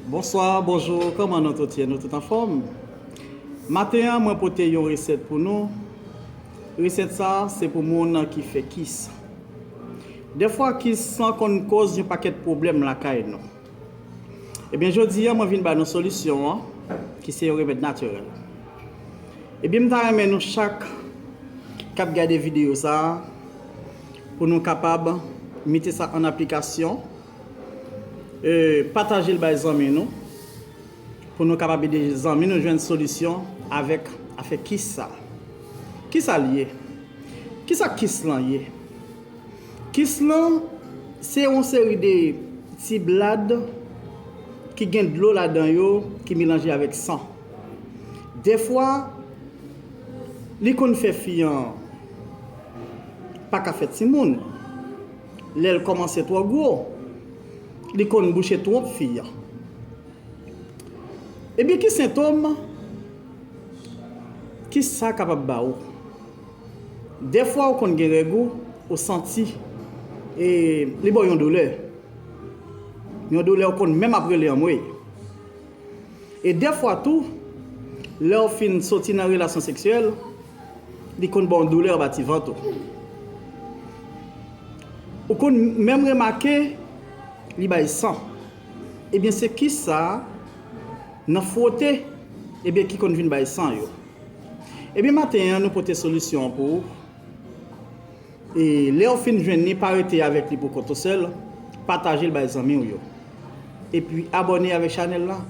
Bonswa, bonjou, kòman nou tout ye? Nou tout anfòm? Maten an mwen pote yon resèt pou nou, resèt sa se pou moun ki fè kis. Dèfwa kis lan konn koz yon pakèt pwoblèm lakay nou. Ebyen jodi an mwen vin ba nou solisyon an ki se yon remèd natirèl. Ebyen m ta renmen nou chak kap gade videyo sa pou nou kapab mete sa an aplikasyon. Patajel bay zanmi nou pou nou kapab ede zanmi nou jwenn solisyon avèk afè kis sa. Kisa l ye? Kisa kis lan ye? Kis lan se yon seri de ti blad ki gen dlo ladan yo ki melanje avèk san. Dèfwa li konn fè fi an pa ka fè timoun. Lèl kòmanse twò gwo. Li konn bouche twonp fi an. Ebyen ki sentom ki sa kapab ba ou. Dèfwa ou konn gen règ ou, ou santi e li ba w yon doulè. Yon doulè ou konn menm ap rele anmweyy. E dèfwa tou, lèw fin soti nan relasyon seksyèl, li konn baw doulè anba ti vant ou. Ou konn menm remake li bay san. Ebyen se kisa nan fwote ebyen ki konn vin bay san yo. Ebyen maten an nou pote solisyon an pou ou. E lew fin jwenn li pa rete avek li pou kont ou sel, patajel bay zanmiw yo. Epi abone avek chanel la,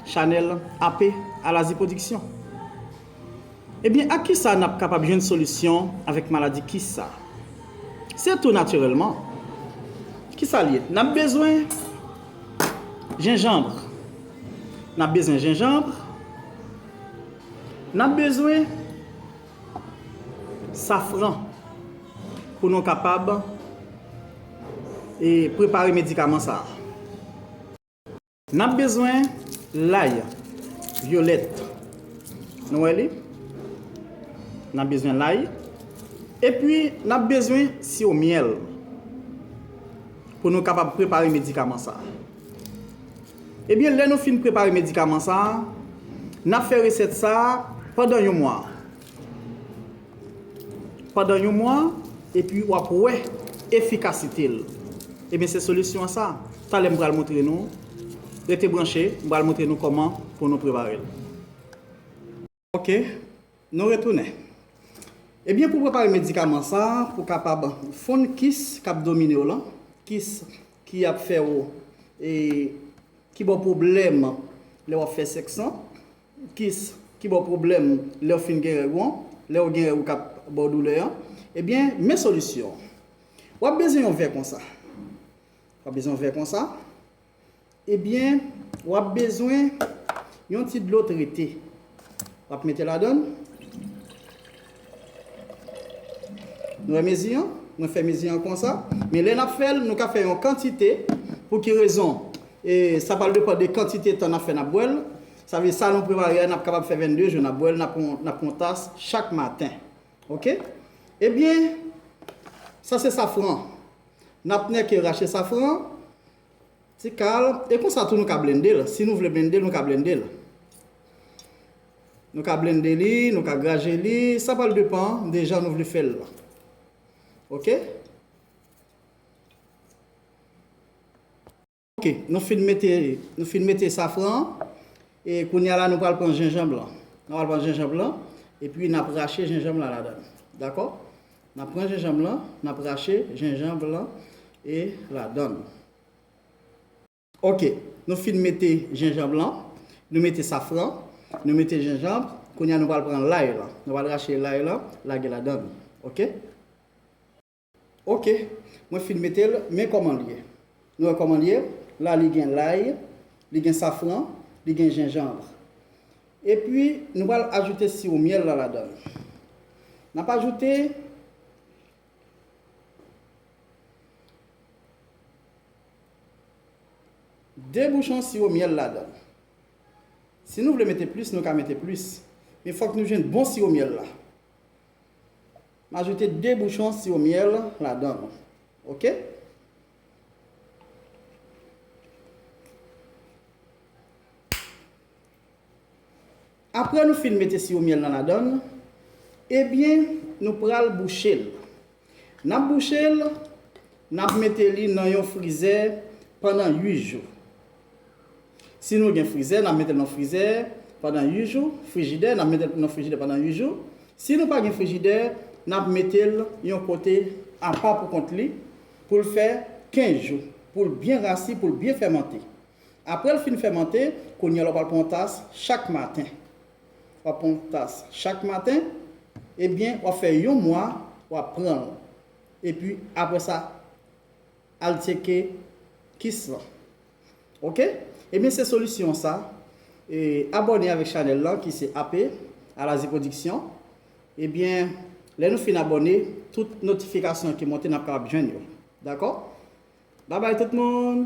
chanel AP Alazi Production. Ebyen ak kisa nap kapab jwenn solisyon avek maladi kis sa? Se tou natirelman. Kisal ye? Nap bezwen jenjanbre, nap bezwen jenjanbre, nap bezwen. Safran pou nou kapab prepare medikaman sa a. N ap bezwen lay vyolèt. Nou wè li? N ap bezwen lay. E pi n ap bezwen siwo myèl pou nou kapab prepare medikaman sa a. Ebyen lè nou fin prepare medikaman sa a, n ap fè resèt sa a pandan yon mwa. Pandan yon mwa, epi w ap wè efikasite l. Ebyen se solisyon an sa. Talè m pral montre nou. Rete branche, m pral montre nou kòman pou nou prepare l. Ok, nou retounen. Ebyen pou prepare medikaman sa pou kapab fonn kis kap domine w lan, kis ki ap fè w e ki ba w pwoblèm lè wap fè sèks lan, kis ki ba w pwoblèm lè w fin gen règ ou an, lè ou gen règ ou kap ba w doulè an, ebyen men solisyon an. Wap bezwen yon vè konsa. Wap bezwen yon vè konsa. Ebyen wap bezwen yon ti dlo trete wap mete ladann. Nou wè mezi an? Mwen fè mezi an konsa. Men lè nap fèl nou ka fè yon kantite pou ki rezon? E sa pral depan de kantite tan nap fè nap bwèl. Sa vle sa nou prepare a nap kapab fè 22 jou nap bwèl nap pran yon tas chak maten. Ok? Ebyen sa se safran. Nap nèke rache safran an ti kal e konsa tou nou ka blende l si nou vle blende l nou ka blende l nou ka blende li nou ka graje li sa pral depan de jan nou vle fè l la ok. Ok nou fin mete nou fin mete safran an e kounya la nou pral pran jenjanb lan nou pral pran jenjanb lan epi nap rache jenjanb lan ladan dakò nap pran jenjanb lan nap rache jenjanb lan e ladan ok nou fin mete jenjanb lan nou mete safran nou mete jenjanb kounya nou pral pran lay lan nou pral rache lay lan lage ladan ok. Ok mwen fin metel men koman l ye nou wè koman l ye la li gen lay li gen safran li gen jenjanvre epi nou pral ajoute siwo myèl la ladann nap ajoute de bouchon siwo myèl ladann si nou vle mete plis nou ka mete plis men fòk nou jwenn bon siwo myèl la. M ajoute 2 bouchon siwo myèl ladan l ok. Aprè nou fin mete siwo myèl nan ladan l ebyen nou pral bouche l. N ap bouche l, n ap mete li nan yon frizè pandan 8 jou. Si nou gen frizè, n ap mete l nan frizè pandan 8 jou, frijidè, n ap mete l nan frijidè pandan 8 jou. Si nou pa gen frijidè, n ap mete l yon kote apa pou kont li pou l fè 15 jou, pou l byen rasi, pou l byen fèmante. Apre l fin fèmante, kounye a la w pral pran yon tas chak maten. W ap pran yon tas chak maten, ebyen w ap fè yon mwa w ap pran l. Epi apre sa. Al tyeke kiss lan ok. Ebyen se solisyon sa e abòne avèk chanèl lan ki se AP Alazi Production ebyen lè nou fin abòne tout notifikasyon ki monte nap kapab jwenn yo dakò babay tout moun.